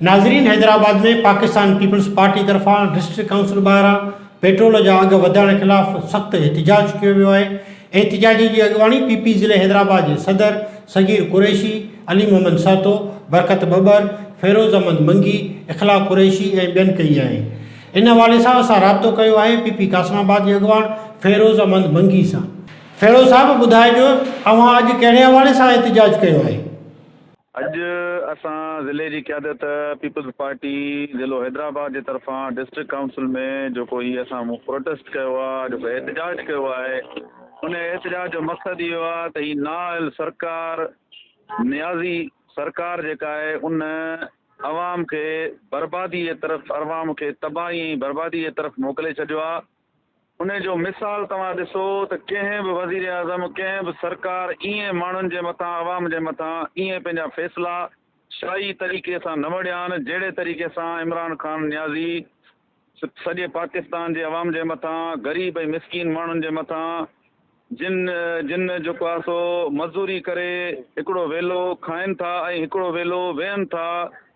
ناظرين Hyderabad ۾ Pakistan Peoples Party طرفان district council ٻاهران پيٽرول جا اگهه وڌائڻ خلاف سخت احتجاج ڪيو ويو آهي احتجاجين جي اڳواڻي پي پي ضلعي حيدرآباد جي صدر صغير قريشي، علي محمد سهتو، برڪت ٻٻر، فيروز احمد منگي، اخلاق قريشي ۽ ٻين ڪئي آهي ان حوالي سان اسان رابطو ڪيو آهي پي پي قاسم آباد جي اڳواڻ فيروز احمد منگي سان. کهڙو صاحب ٻڌائجو اوهان اڄ ڪهڙي حوالي سان احتجاج ڪيو آهي؟ اڄ اسان ضلعي جي قيادت پيپلز پارٽي ضلعو حيدرآباد جي طرفان ڊسٽرڪٽ ڪائونسل ۾ جيڪو هي اسان پروٽيسٽ ڪيو آ جيڪو احتجاج ڪيو آهي ان احتجاج جو مقصد اهو آ ته هي نااهل سرڪار نيازي سرڪار جيڪا آهي ان عوام کي بربادي جي طرف عوام کي تباهي ۽ بربادي جي طرف موڪلي ڇڏيو آ. انهي جو مثال توهان ڏسو ته ڪنهن به وزيراعظم، ڪنهن به سرڪار ايئن ماڻهن جي مٿان، عوام جي مٿان ايئن پنهنجا فيصلا شاهي طريقي سان نه وڙهيان جهڙي طريقي سان عمران خان نيازي سڄي پاڪستان جي عوام جي مٿان، غريب ۽ مسڪين ماڻهن جي مٿان، جن جن جيڪو آهي سو مزوري ڪري هڪڙو ويلو کائن ٿا ۽ هڪڙو ويلو ويهن ٿا،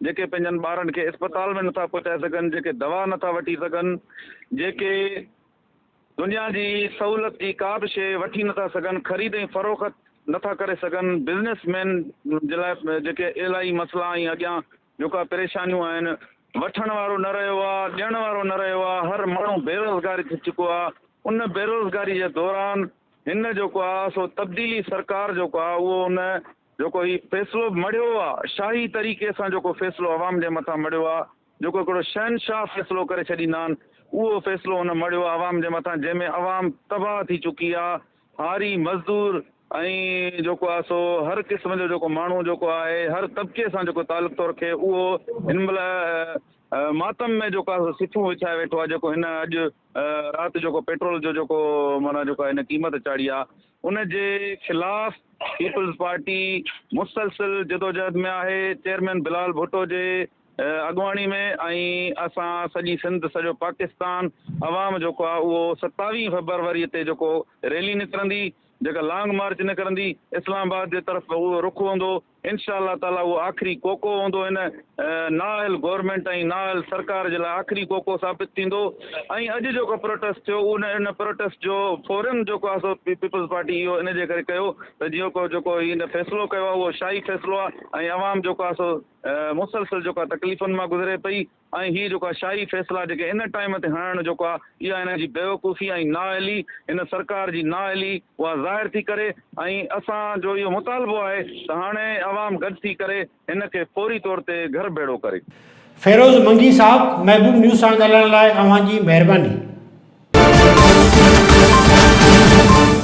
جيڪي پنهنجن ٻارن کي اسپتال ۾ نٿا پهچائي سگهن، جيڪي دوا نٿا وٺي سگهن، جيڪي دنيا جي سهولت جي ڪا به شيء وٺي نٿا سگهن، خريد ۽ فروخت نٿا ڪري سگهن، بزنس مين جي لاء جيڪي الاهي مسئلا ۽ اڳيان جوڪا پريشانيون آهن، وٺڻ وارو نه رهيو آ، ڏيڻ وارو نه رهيو آ، هر ماڻهو بيروزگار ٿي چڪو آ، ان بيروزگاري جي دوران هن جيڪو آ سو تبديلي سرڪار جيڪو آ اهو ان جيڪو هي فيصلو مڙهيو آ، شاهي طريقي سان جيڪو فيصلو عوام جي مٿان مڙهيو آ، جيڪو هڪڙو شهنشاهه فيصلو ڪري ڇڏيندا آهن، اهو فيصلو هن مڙهيو آ عوام جي مٿان جنهن ۾ عوام تباهه ٿي چڪي آ، هاري، مزدور ۽ جيڪو آهي سو هر قسم جو جيڪو ماڻهو جيڪو آهي هر طبقي سان جيڪو تعلق ٿو رکي اهو هن مهل ماتم ۾ جيڪو آهي سو سٿون وڇائي ويٺو آهي جيڪو هن اڄ رات جيڪو پيٽرول جو جيڪو معنيٰ جيڪو هن قيمت چاڙهي آهي ان جي خلاف پيپلز پارٽي مسلسل جدوجهد ۾ آهي چيئرمين بلال ڀٽو جي اڳواڻي ۾ ۽ اسان سڄي سنڌ سڄو پاڪستان عوام جيڪو آ اهو ستاويهه فبروري تي جيڪو ريلي نڪرندي جيڪا لانگ مارچ نڪرندي اسلام آباد جي طرف اهو رخ هوندو انشاء الله تعالي اهو آخري ڪوڪو هوندو هن نااهل گورنمينٽ ۽ نااهل سرڪار جي لاء آخري ڪوڪو ثابت ٿيندو ۽ اڄ جيڪو پروٽيسٽ ٿيو ان ان پروٽيسٽ جو فورن جيڪو آ سو پيپلز پارٽي اهو ان جي ڪري ڪيو ته جيڪو جيڪو هن فيصلو ڪيو آ اهو شاهي فيصلو آ ۽ عوام جيڪو آ سو مسلسل جيڪا تڪليفن مان گذري پئي ۽ هي جيڪا شاهي فيصلا جيڪي ان ٽائيم تي هڻڻ جيڪو آ اها هن جي بيوقوفي ۽ نااهلي هن سرڪار جي نااهلي اها ظاهر ٿي ڪري ۽ اسان جو اهو مطالبو آهي ته هاڻي عوام گڏ ٿي ڪري هن کي فوري طور تي گهر ڀيڙو ڪري. فيروز منگي صاحب محبوب نيوز سان ڳالهائڻ لاء اوهان جي مهرباني.